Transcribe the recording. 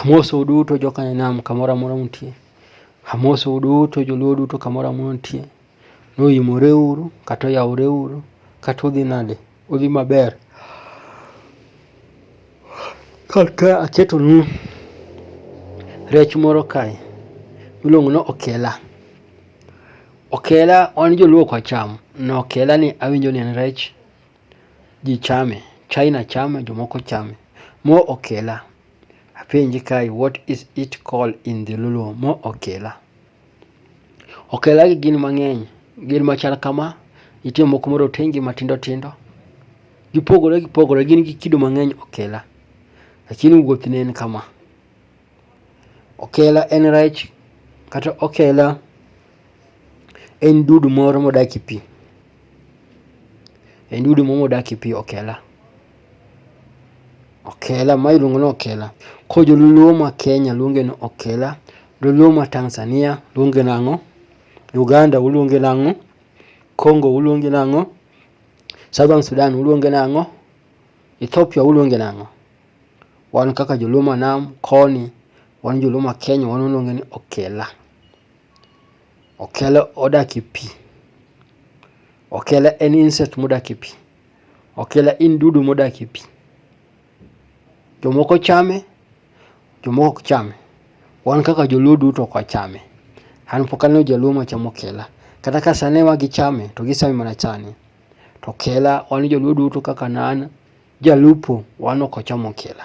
Amosou duto jokanyanam kamoro amora mutie. Amosou duto joluo duto kamoro amora mutie. Noimore uru kata oyawore uru kata udhi nade udhi maber. Kaka aketonu rech moro kae miluongo ni okela. Okela wan joluo ok wacham. Okela ni awinjo ni en rech. Ji chame, China chame jomoko chame. Mo okela, apenji kae what is it called in dholuo? Mo okela. Okela gi gin mang'eny, gin machal kama, nitie moko morotengi matindo tindo. Gipogore gipogore, gin gi kido mang'eny okela. Lakini wuothne en kama. Okela en rech kata okela. En dudu moro modak e pi. En dudu moro modak e pi okela. Okela ma iluongo ni okela. Koro joluo ma Kenya luonge ni okela. Joluo ma Tanzania luonge nang'o? Uganda uluonge nang'o? Congo uluonge nang'o? Southern Sudan uluonge nang'o? Ethiopia uluonge nang'o? Wan kaka joluo ma nam koni, wan joluo ma Kenya wan waluonge ni okela. Okele odak e pi. Okele en insect modak e pi. Okele en dudu modak e pi. Jomoko chame, jomoko ok chame. Wan kaka joluo duto ok wachame. An pok aneno jaluo machamo okela. Kata ka sani ma gichame to gichame mana chande. To okela wan joluo duto kaka an an jalupo wan ok wacham okela.